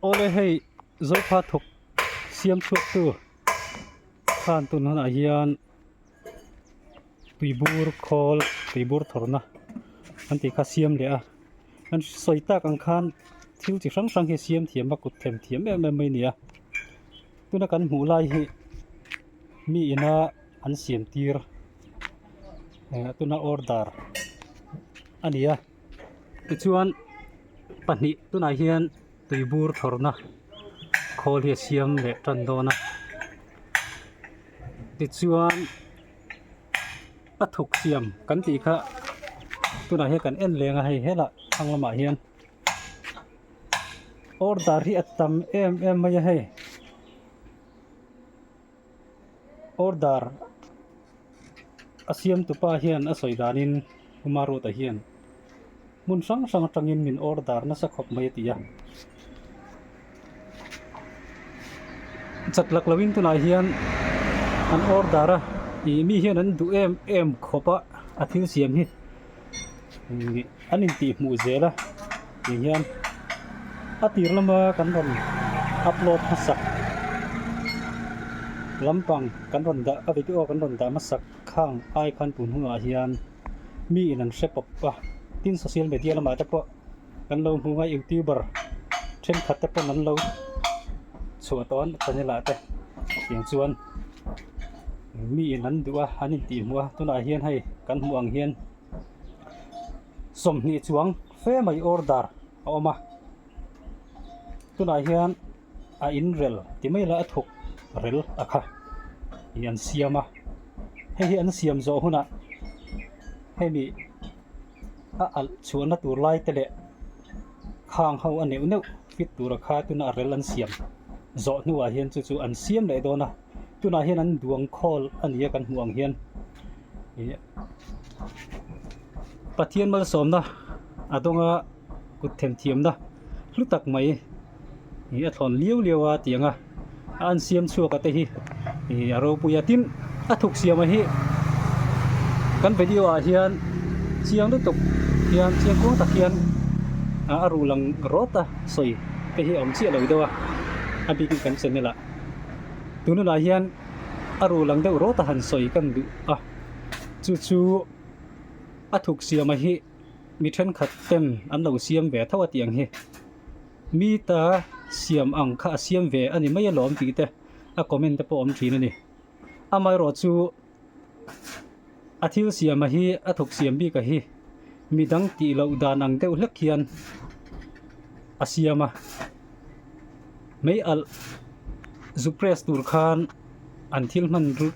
Ole hei zoipha thawk siam chhuak tu khan tun han ah hian tuibur khawl tuibur thawrna an ti kha siam leh a an sawi tak ang khan thil chi hrang hrang hi siam thiam a kut thlen thiam em em mai a ni a tuna kan hmuh lai hi mi ina an siam tir ehh tuna order a ni a tichuan pahnih tunah hian tui bur thawrhna khawl hi a siam leh tan dawn a tichuan a thuk siam kan tih kha tunah hian kan en leng a hei hela thlang lamah hian order hi a tam em em mai a hei. Order a siamtu pa hian a sawi danin Umarut-a hian hmun hrang hrang atangin min order nasa khawp mai a ti a. Chak lak loin tunah hian an order a, mi hian an duh em em khawp a, a thil siam hi. an in tih hmuh zel a tih hian a tir lama kan rawn upload hmasak lampang kan rawn dah a video kan rawn dah hmasak khang ai khan tun hunah hian mi in an hre pawp a tin social media lamah te pawh-- kan lo hmuh a youtuber thenkhat te pawn an lo chhuah tawh a ni channel ah te tiang chuan mi in an duh a an intih hmuh a tunah hian hei kan hmuh ang hian sawmhnih chuang fe mai order a awm a tunah hian a inrel ti mai la a thuk rel a kha ih an siam a hei hi an siam zawh hunah hemi-- A alh chhuahna tur laite leh khang ho a neuh neuh fit tura kha tuna a rel an siam zawh hnuah hian chu chu an siam leh dawn a. Tunah hian an duang khawl a nia kan hmuh ang hian ih Pathian malsawmna a dawnga kut themthiamna hlu tak mai ih a thlawn liau liau a tianga An siam chhuak a te hi ih a ropui a tin a thuk siam a hi kan video ah hian chiang lutuk hian chiang kuang tak hian a ruh lang rawt a sawi te hi a awm chiah lo deuh a a bik in kan channel ah tun hunah hian a ruh lang deuh rawt a han sawi kan duh a chu chu a thuk siam a hi mi thenkhat ten an lo siam ve tho a tih ang hi. Mi ta siam ang kha a siam ve a ni mai alawm tih te a comment te pawh awm thin a ni. Amaherawh chu a thil siama hi a thuk siam bik a hi midang tih loh dan ang deuh hlek hian a siam a. Mei alh zu press tur khan. An thil hman chu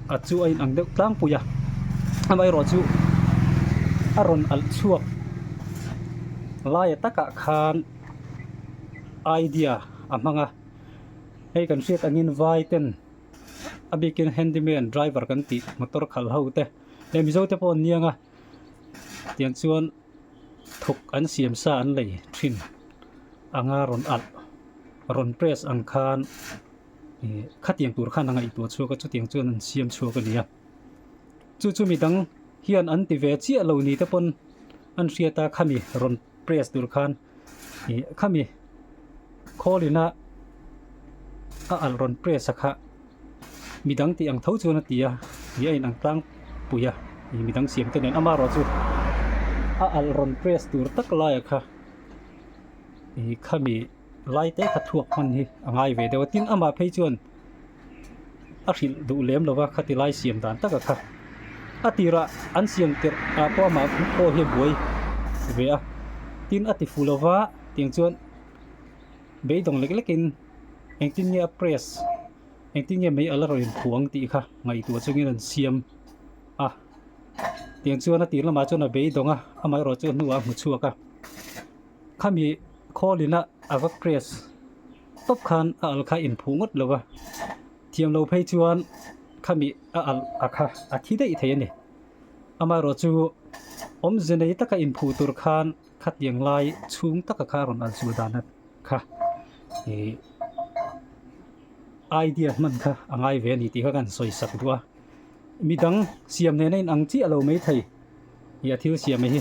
a chu a in ang deuh tlangpui a, amaherawh chu a rawn alh chhuak laia takah khan idea a hmang a, hei kan hriat angin vai ten a bikin handyman driver kan tih motor khalh ho te hei mizo te pawh an niang a tiang chuan thuk an siam sa an lei thin anga rawn alh rawn press ang khan khatiang tur khan a ngaihtuah chhuak a chutiang chuan an siam chhuak a nia chu chu midang hian an ti ve chiah lo ni te pawn an hriat a khami rawn press tur khan ih khami khawlina a al rawn press a kha midang tih ang tho chuan a ti a ih a inang tlang pui a ih midang siam te nen ama rawh chu a al rawn press tur tak laia kha ih khami Lai te kha thuak hman hi a ngai ve deuh a, tin amah phei chuan a hrilh duh lem lo va, khati lai siam dan taka kha a tirah an siam tirh ah pawh amah pawh hi a buai ve a, tin a ti fu lo va tiang chuan beidawng lek lek in engtin nge a press engtin nge mai ala rawn inphuang tih kha ngaihtuah chungin an siam a, tiang chuan a tir lamah chuan a beidawng a, amaherawhchu a hnua a hmu chhuak a. Khami Kholina a va crash tawp khan a al kha inphuh ngawt lo a, thiam lo phei chuan khami a al a kha a thi daih thei a ni. Amaherawh chu awmze nei taka inphuh tur khan khatiang lai chhung taka kha a rawn al chul dan a kha ih idea hman kha a ngai ve a ni tih kha kan sawi sak duh a. Midang siam hnena inang chiah lo mai thei ih a thil siam mai hi.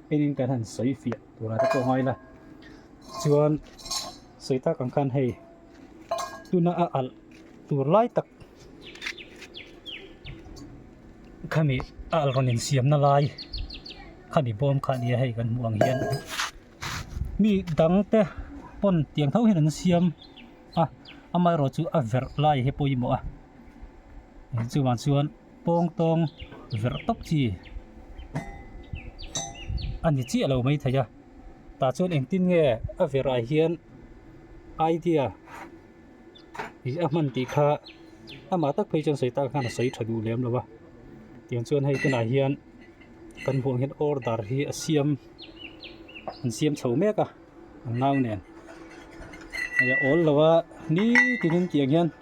Engin kan han sawi fiah tur ate pawh ngai la chuan sawi tak ang khan hei tuna a alh tur lai tak khami a alh rawn insiam na lai khami bawm kha nia hei kan hmuh ang hian mi dang te pawn tiang tho hian an siam a amaherawhchu a verh lai hi pawimawh a chuvang chuan-- pawng tawng verh tawp chi a ni chiah lo mai thei a tah chuan engtin nge a verhah hian idea ih a hman tih kha amah tak phei chuan sawi tan khan a sawi tha duh lem lo va tiang chuan hei tunah hian kan hmuh ang hian order hi a siam an siam chho mek a ang nau nen hei a awl lo a ni tiin an tih ang hian--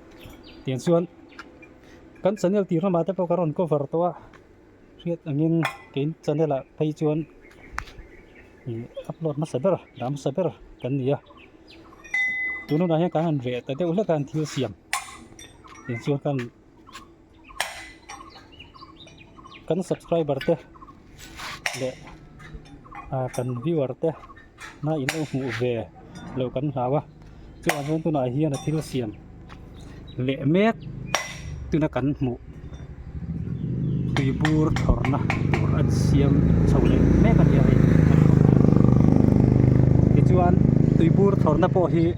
tiang chuan kan channel tih hlamah te pawh ka rawn cover tawh a hriat angin kein channel ah phei chuan ih upload hmasa ber dah hmasa ber kan ni a tunah hian kan han ve ta deuh hlek a an thil siam tiang chuan kan-- kan subscriber te leh ah kan viewer te na in en hmuh ve lo kan hlau a chuan vel tunah hian a thil siam leh mek tuna kan hmuh tui bur thawrh na tur a siam chho leh mek a ni a hei tichuan tui bur thawrh na pawh hi--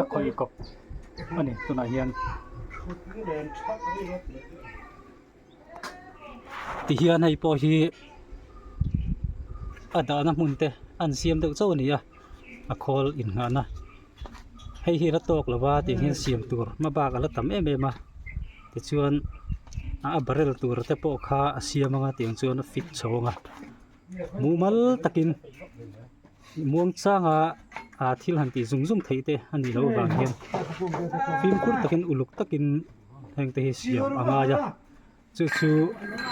a khawi kawp a ni tunah hian tihian hei pawh hi a dahna hmun te a an siam deuh chauh a ni a a khawl inngahna hei hi a la tawk lo va tih hian siam tur hma bak a la tam em em a tichuan a barrel tur te pawh kha a siam anga tiang chuan a fit chho ang a. Mumal takin Muangchanga aa thil han tih zung zung theih te a nih loh vang hian fimkhur takin uluk takin heng te hi siam a ngai a. Chu chu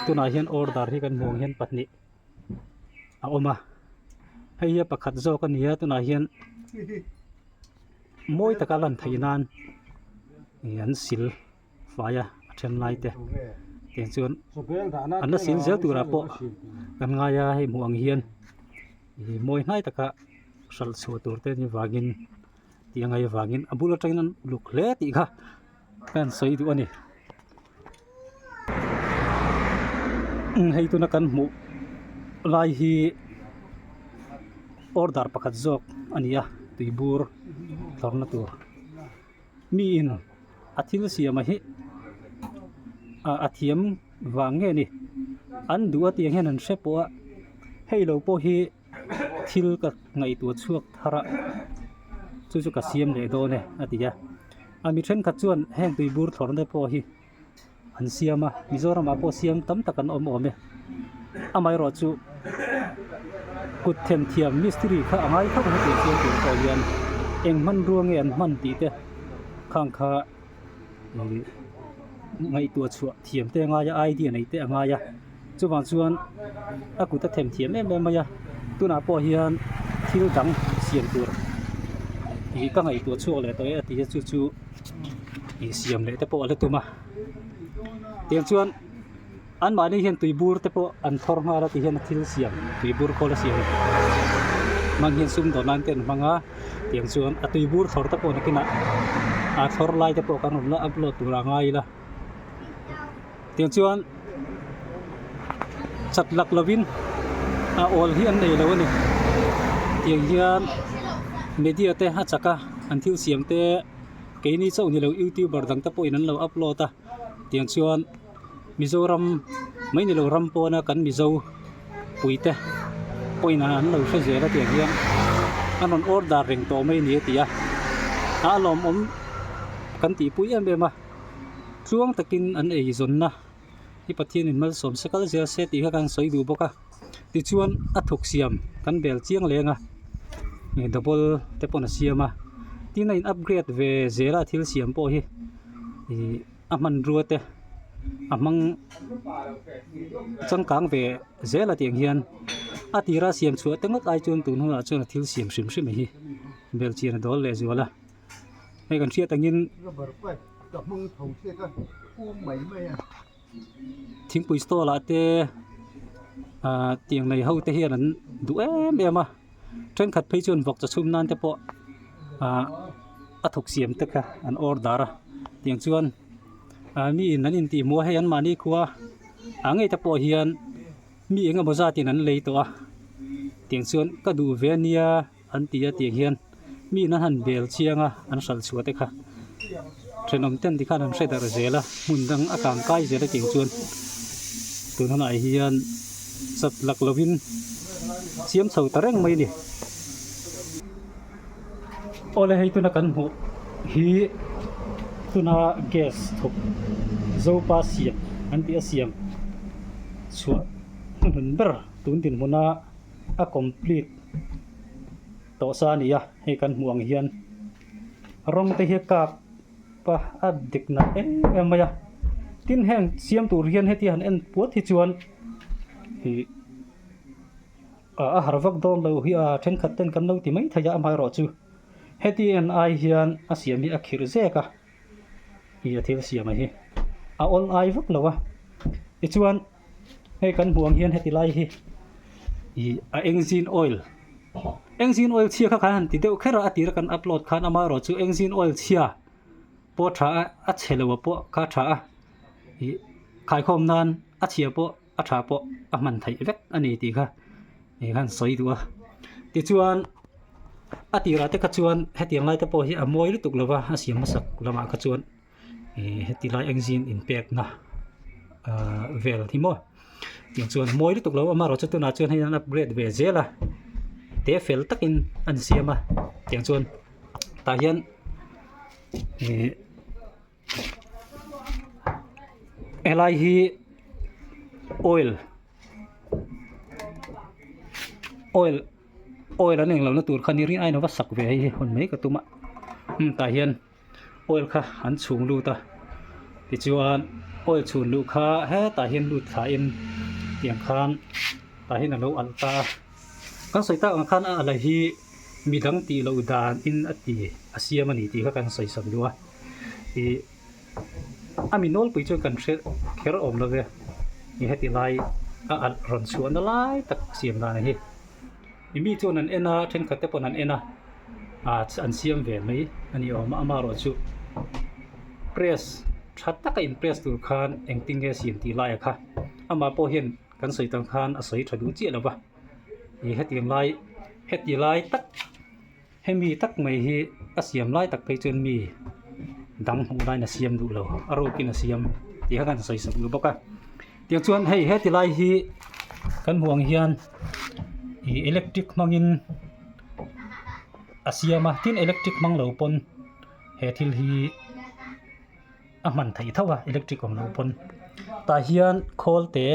tunah hian order hi kan hmuh ang hian pahnih a awm a. Hei hi a pakhat zawk a ni a tunah hian mawi taka lan theih nan an sil. faia a then lai te tiang chuan an la sil zel tur ah pawh kan ngai a hei hmuh ang hian ihh mawi hnai tak a hral chhuah tur te ni vang in tih a ngaih avang in a bul aṭang in an uluk hle tih kha hian sawi duh a ni hei tuna kan hmuh lai hi order pakhat zawk a ni a tui bur thlawrna tur. Mi in a thil siama hi ah a thiam vang nge ni? An duh atiang hian an hre pawh a, hei lo pawh hi thil ka ngaihtuah chhuak thar a, chu chu ka siam leh dawn e a ti a. A mi thenkhat chuan heng tui bur thlawrna te pawh hi an siam a Mizoramah pawh siam tam tak an awm awm e amaherawh chu kut thlen thiam mistiri kha a ngai khawp mai tih a fiang tih pawh hian eng hman ruang nge an hman tih te khang kha ihh ngaihtuah chhuah thiam te a ngai a idea nei te a ngai a. Chuvang chuan a kut a thèm thiam em em mai a, tunah pawh hian thil dang siam tur ih ka ngaihtuah chhuak leh tawh e a ti a, chu chu ih siam leh te pawh a la tum a. Tiang chuan anmahni hian tui bur te pawh an thawr nghal a ti hian a thil siam tui bur khawl a siam hman hian sum dawn nan te an hmang a, tiang chuan a tui bur thawr te pawh nakin ah aa thawr lai te pawh kan rawn la upload tur a ngai ila. Tiang chuan chak lak lovin a awl hi an nei lo a ni. Tiang hian media te a chaka an thil siam te keini chauh nilo youtuber dang te pawhin an lo upload a. Tiang chuan Mizoram mai nilo ram pawna kan Mizo pui te pawhin an lo hre zel a tiang hian an rawn order reng tawh mai a ni a ti a. A lawmawm kan tihpui em em a. tluang takin an ei zawnna hi Pathian in malsawm se kal zia se tih kha kan sawi duh bawk a, tichuan a thuk siam kan bel chiang leng a, ih double te pawn a siam a, tin a in upgrade ve zel a a thil siam pawh hi, ih a hmanrua te a hmang changkang ve zel ati ang hian a tira siam chhuah te ngawt ai chuan tun hunah chuan a thil siam hrim hrim hi bel chian a dawl leh zual a. hei kan hriat angin thingpui stall ah te ahh tiang nei ho te hian an duh em em a thenkhat phei chuan vawk chi chhum nan te pawh ahh a thawk siam te kha an order a tiang chuan ahh mi in an intih hmuh a hei anmahni khua a ngei te pawh hian mi engemaw zat in an lei tawh a tiang chuan ka duh ve a nia. An ti a tiang hian miin an han bel chiang a, an hralh chhuah te kha thenawm ten tikhan an hre darh zel a, hmun dang a kang kai zel akin chuan tun hunah hian sat lak lovin siam chho ta reng mai a ni. Awle hei tuna kan hmuh hi tuna gas thawk zopa siam an tih a, siam chhuah hnu hnun ber tun dinhmuna a complete. tawh sa a ni a, hei kan hmuh ang hian rawng te hi a kap a a dik nalh em em mai a, tin heng siam tur hian heti han en puat hi chuan ih a har vak dawn lo hi a, thenkhat ten kan lo ti mai thei a amah erawh chu heti en ai hian a siam hi a khirh zek a, ih a thil siam a hi a awl ai vak lo a, tichuan. Hei kan hmuh ang hian heti lai hi ih a engine oil engine oil chhia kha khan han ti deuh kher a a tira kan upload khan ama erawh chu engine oil chhia pawh tha a a chhe loh ah pawh kha tha a ih khaikhawm nan a chhia pawh a tha pawh a hman theih vek a ni tih kha ih han sawi duh a tichuan a tirah te kha chuan hetiang lai te pawh hi a mawi lutuk lova a siam hmasak lamah kha chuan-- ihh heti lai eng zin in pek na ahh vel hi maw tin chuan mawi lutuk lo amarawh chu tunah chuan hei an upgrade ve zel a te fel takin an siam a tiang chuan tah hian ihh he lai hi oil oil oil an englo na tur khan ni riai aiin a va sak ve a hei hi hun mai ka tum a tah hian-- oil kha an chhung lut a tichuan oil chhun luh kha hetah hian lut thla in tiang khan tah hian alo alh ta a kan sawi ta ang khan a alh hi mi dang tih loh dan in a ti a siam a ni tih kha kan sawi chawp lu a ih a mi nawl pui chu kan hre kher awm lo ve ni heti lai a alh rawn chhuah na lai tak siam dan ang hi. I mi chuan an en a, thenkhat te pawh an en a, ahh an siam ve mai a ni awm a, ama erawh chu press tha taka impress tur khan engtin nge siam tih laia kha ama pawh hian kan sawi tan khan a sawi tha duh chiah lo va, ih heti ang lai heti lai tak-- Hemi tak mai hi ka siam lai tak phei chuan mi dang hmuh laiin a siam duh lo, a rokin a siam tih kha kan sawi sawm nu bawk a. Tiang chuan hei heti lai hi kan hmuh ang hian ih electric hmangin a siam a, tin electric hmang lo pawn he thil hi a hman theih tho a, electric awm loh pawn. Tah hian khawl te,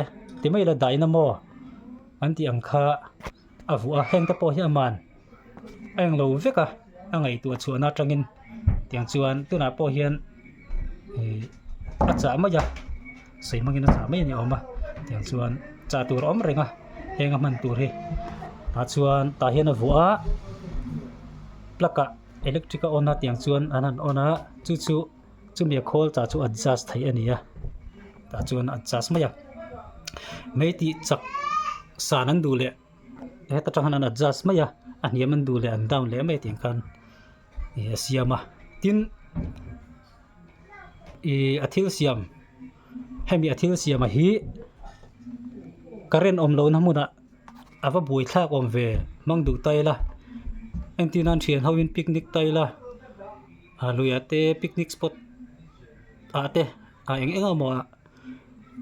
ti mai ila dynamo kan tih ang kha. A vuah a, hengte pawh hi a man a eng lo vek a, a ngaihtuah chhuahna atangin tiang chuan tunah pawh hian ih a chah mai a, sawi hmangin a chah mai a ni awm a, tiang chuan chah tur a awm reng a, heng a hman tur hi. Tah chuan tah hian a vuah a, plug ah electric a on a tiang chuan an han on a, chu chu-- chumi a khawl ta chu adjust theih a nia tah chuan a adjust mai a mei tih chak san an duh leh heta tang hian an adjust mai a a hniam an duh leh an down leh mai tih khan ih a siam a tin ih a thil siam hemi a thil siam a hi current awm lohna hmunah a va buai thlak awm ve hmang duhta ila engtinan thian ho in picnic ta ila. A luiah te picnic spot ah te a eng enga mawha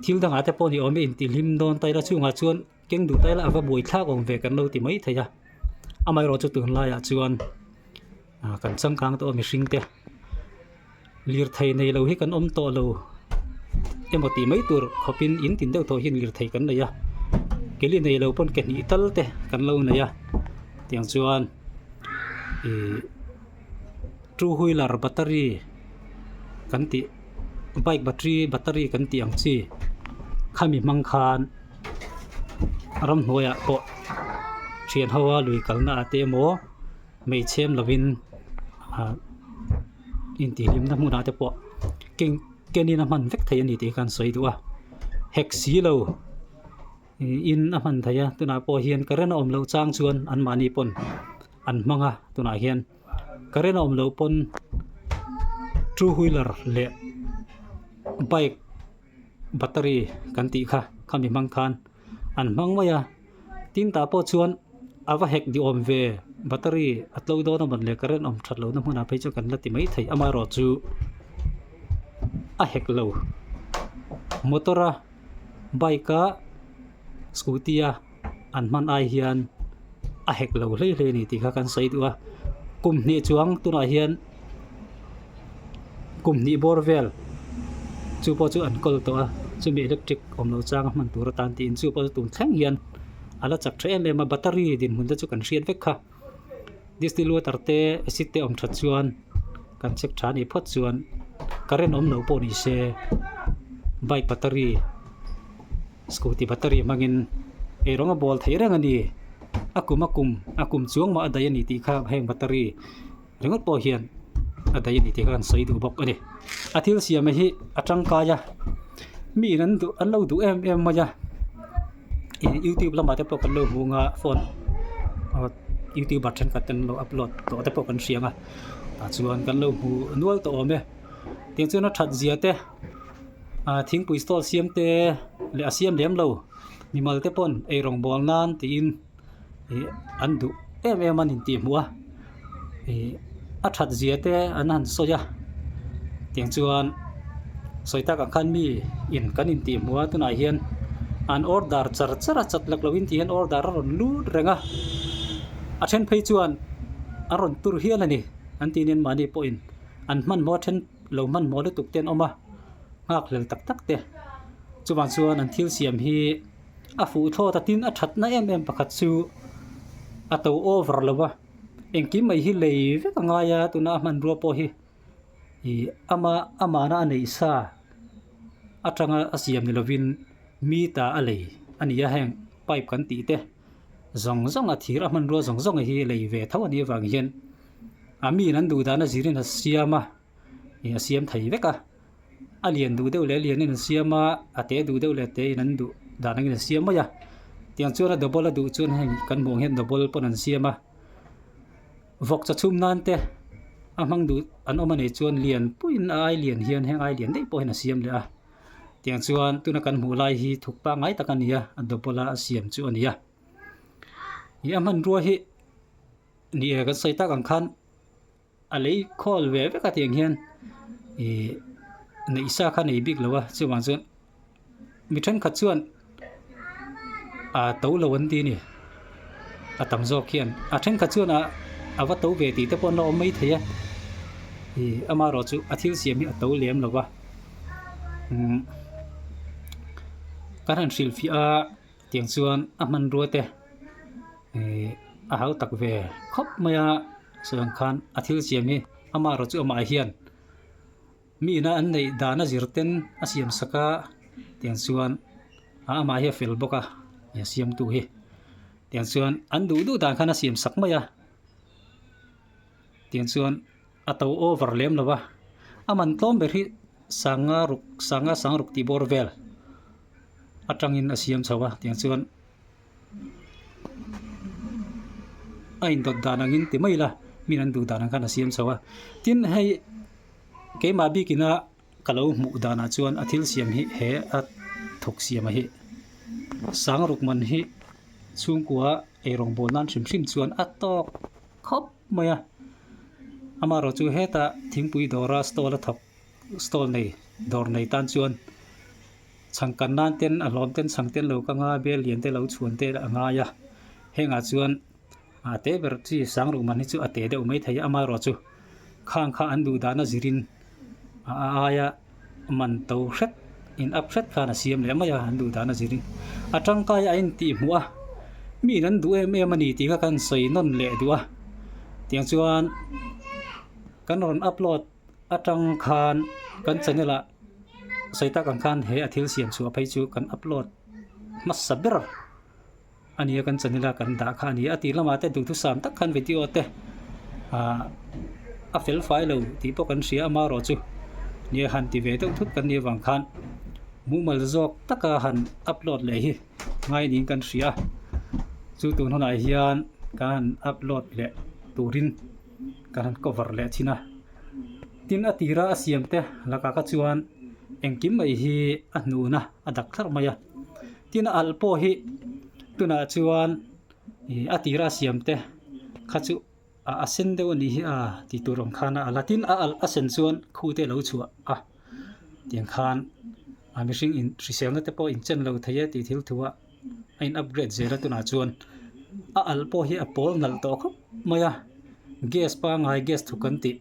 thil dangah te pawh ni awm e intihhlim dawn ta ila chhungah chuan keng duh ta ila ava buai thlak awm ve kan lo ti mai thei a amaherawhchu tunlaiah chuan ah kan changkang tawh a mihring te lirthei nei lo hi kan awm tawh lo emaw tih mai tur khawpin in tin deuh tawh hian lirthei kan nei a ke li nei lo pawn ke hnih tal te kan lo nei a tiang chuan ihh-- two wheeler battery kan tih bike battery battery kan tih ang chi khami hmang khan ramhnuaia pawh ṭhian hoa lui kalna ate emaw hmeichhem lovin ah intihhlimna hmunah te pawh keng kenin a hman vek thei a ni tih khan an sawi duh a hek si lo niin a hman theih a tunah pawh hian ka rinawm loh chang chuan anmahni pawn-- an hmang a tunah hian current a awm loh pawn two wheeler leh bike battery kan tih kha khami hmang khan an hmang mai a tin tah pawh chuan a va hek ni awm ve battery a tlawih dawn a hman leh current awm that loh na hmunah phei chu kan la ti mai thei amaherawhchu chu a hek lo motor a bike a scooty a-- an hman ai hian a hek lo hle hle a ni tih kha kan sawi duh a kum hnih chuang tunah hian kum hnih bawr vel chu pawh chu an kawl tawh a chumi electric awm lo changa hman tur atan tiin chu pawh chu tun thleng hian a la chak tha em em a battery dinhmun te chu kan hriat vek kha. Distiluater te acid te awm tha chuan kan check tha a nih phawt chuan current awm loh pawh ni se bike battery scooty battery hmangin eng rawng a bawl theih reng a ni a kum a kum a kum chuang mah a daih a ni tih kha heng battery-- ringawt pawh hian a dai a ni tih khan sawi duh bawk a ni a thil siam hi a tangkai a mi in an duh an lo duh em em mai a eng youtube lamah te pawh kan lo hung a phone aw youtuber thenkhat ten an lo upload tawh te pawh kan hriang a tah chuan kan lo hmu nual tawh awm e tiang chuan a that zia te a thingpui stall siam te leh a siam lem lo mimal te pawn ei rawn bual nan tiin-- ih an duh em em a ni tih hmu a ih a that zia te an han sawi a tiang chuan sawi tak ang khan mi in kan in tih hmu a tunah hian an order char char a chak lak lo in tih hian order a rawn lut reng a a then phei chuan a rawn tur hial a ni an tih hian mahni pawhin an hmanhmawh a then lo hmanhmawh lutuk te an awm a nghakhlel tak tak te chuvang chuan an thil siam hi-- a fuh thlawt a tin a thatna em em pakhat chu a to over lo va engkim mai hi lei vek a ngai a tuna a hmanrua pawh hi ih ama amana a neih sa atanga a siam ni lovin mi ta a lei a ni a heng pipe kan tih te zawng zawnga thir a hmanrua zawng zawnga hi lei ve tho a nih avang hian a min an duh dan a zir in a siam a. in a siam thei vek a, a lian duh deuh leh lian in an siam a, a te duh deuh leh te in an duh dan angin an siam mai a, tiang chuan a double a duh chuan hei kan hmuh ang hian double pawn an siam a, vawk cha chhum nan te a hmang duh an awm a nih chuan lian puiin a ailian hian heng ailian daih pawhin a siam leh a, tiang chuan tuna kan hmuh lai hi thuk pangngai tak a ni a, a double a a siam chu a ni a, ih a hmanrua hi ni e kan sawi tak ang khan, A lei khawl ve vek atiang hian ih neihsa kha nei bik lo a chuvang chuan mi thenkhat chuan a to lo an ti a ni a tam zawk hian a thenkhat chuan a a va to ve tih te pawh an lo awm mai thei a ih amarawh chu a thil siam hi a to lem lo va ka han hrilh fiah a. Tiang chuan a hmanrua te ihh a hau tak ve khawp mai a chuvang khan a thil siam hi amah erawh chu amah hian mihna an neih dan a zir ten a siam sak a tiang chuan a amah hi a fel bawk a eng siamtu hi tiang chuan an duh duh dan khan a siam sak mai a tiang chuan-- A to over lem lova, a man tlawm ber hi sanga ruk, sanga sang ruk tih bawr vel atangin a siam chho a, tiang chuan a indawt dan angin ti mai ila min an duh dan ang khan a siam chho a. Tin, hei keimah bik ina ka lo hmuh danah chuan a thil siam hi he a thawk siama hi sang ruk man hi chhungkua eirawng bawl nan hrim hrim chuan a tawk khawp. mai a, amaherawh chu heta thingpui dawra stall a thawk stall nei dawr nei tan chuan chhangkan nan ten a hlawm ten chhang te an lo kang a, bel lian te lo chhuan te a ngai a, hengah chuan a te ber chi sang ruhman hi chu a teh deuh mai thei a, amaherawh chu khang kha an duh dan a zirin A aia man to hret, in up hret khan a siam leh mai a, an duh dan a zir i. A tangkai a intih hmuh a, Miin an duh em em a ni tih kha kan sawi nawn leh duh a. Tiang chuan kan rawn upload atang khan kan channel ah sawi tak ang khan he a thil siam chhuah phei chu kan upload hmasa ber. a nia kan chawn ila kan dah kha a nia a tih lamah te duhthusam tak khan video te a fel fai lo tih pawh kan hria ama erawh chu nia han ti ve deuh thut kan nih avang khan mumal zawk taka han upload leh hi ngai niin kan hria chu tun hunah hian kan han upload leh turin kan han cover leh thin a tin a tira a siam te laka kha chuan engkim mai hi a hnuna a dak thar mai a. Tin a alh pawh hi tunah chuan a tira a siam te kha chu a sen deuh a ni a tih tur awm khan a alh a, tin a alh a sen chuan khu te a lo chhuah a tiang khan a mihring in hriselna te pawh a inchen lo thei a tih thil thu a a in upgrade zel a tunah chuan a alh pawh hi a pawl hnalh tawh khawp mai a gas pangngai gas thuk kan tih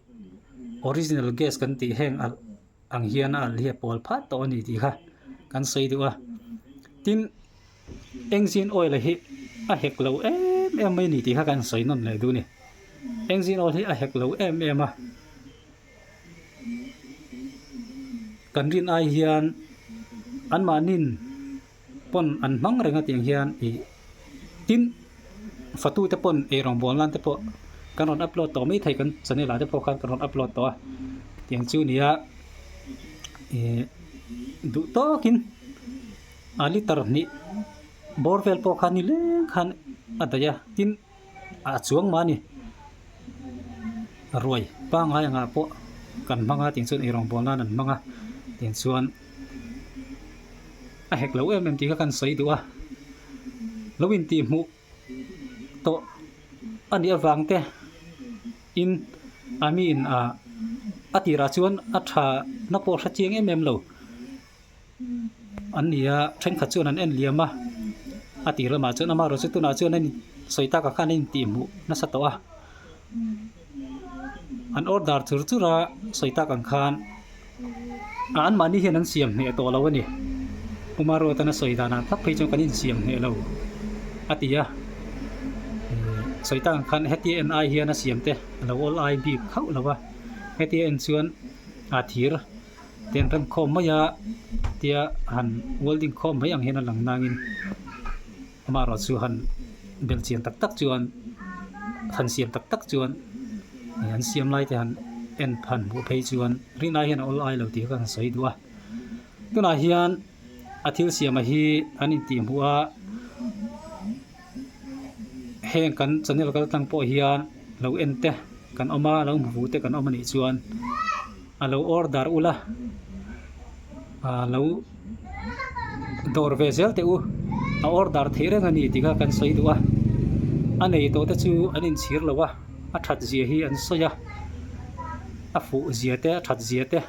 original gas kan tih heng alh ang hian a alhia pawl phat tawh a ni tih kha kan sawi deuh a tin engzin oil hi a hek lo em em mai ni tih kha kan sawi nawn leh dun ni engzin oil hi a hek lo em em a kan rin ai hian anmahnin pawn an hmang reng ati ang hian i tin fatu te pawn ei rawn bual nan te pawh kan rawn upload tawh mai thei kan channel ah te pawh khan kan rawn upload tawh a tiang chu ni a eh duh tawk in a litre hnih bawr vel pawh khan ni leng khan a daih a tin A chuang mah a ni. A ruai pangai ang ah pawh kan hmang a tih chuan erawh bual nan an hmang a tih chuan a hek loh em em tih kha kan sawi duh a, lo intih hmuh tawh a nih avang te in a miin ah a tirah chuan a tha na pawh a hre chiang em em lo. an ni a thenkhat chuan an en liam a a tih lamah chuan amarawh chu tunah chuan a in sawi taka khan a intih hmuh nasa tawh a an order chur chur a sawi tak ang khan a anmahni hian an siam hneh tawh lo a ni umarawt an sawi dan ang tak phei chu kan insiam hneh lo a ti a sawi tak ang khan hetia en ai hian a siam te a lo awl ai bik hauh lo a hetia en chuan a thir Tiang kan khawm mai a tia han welding khawm mai ang hian a lang nangin amaherawh chu han bel chian tak tak chuan han siam tak tak chuan an siam lai te han en han hmuh phei chuan ri nai hian a awl ai lo tih ka han sawi duh a tunah hian a thil siam a hi an intih hmuh a Heng kan channel kal tlang pawh hian lo en te kan awm a lo hmu fu te kan awm a nih chuan a lo order ula lo dawr ve zel teh u a order theih reng a ni tih kha kan sawi duh a a nei tawh te chu an in chhir lo a a that zia hi an sawi a a fuh zia te a that zia te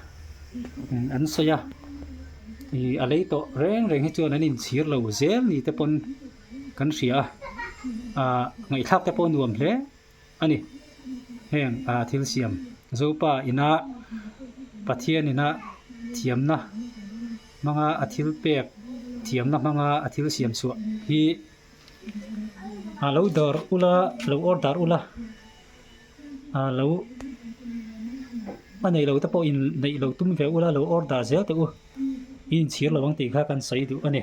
an sawi a ih a lei tawh reng reng hi chuan an in chhir lo zel ni te pawn-- Kan hria a, aa ngaihthlak te pawh nuam hle a ni. Heng aa thil siam Zopa ina Pathian ina thiamna hmanga a thil pek thiamna hmanga a thil siam chhuah hi aa lo dar ula, lo order ula, aa lo a nei lo te pawh in neih lo tum ve ula, lo order zel teh u, inchhir lo ang tih kha kan sawi duh a ni.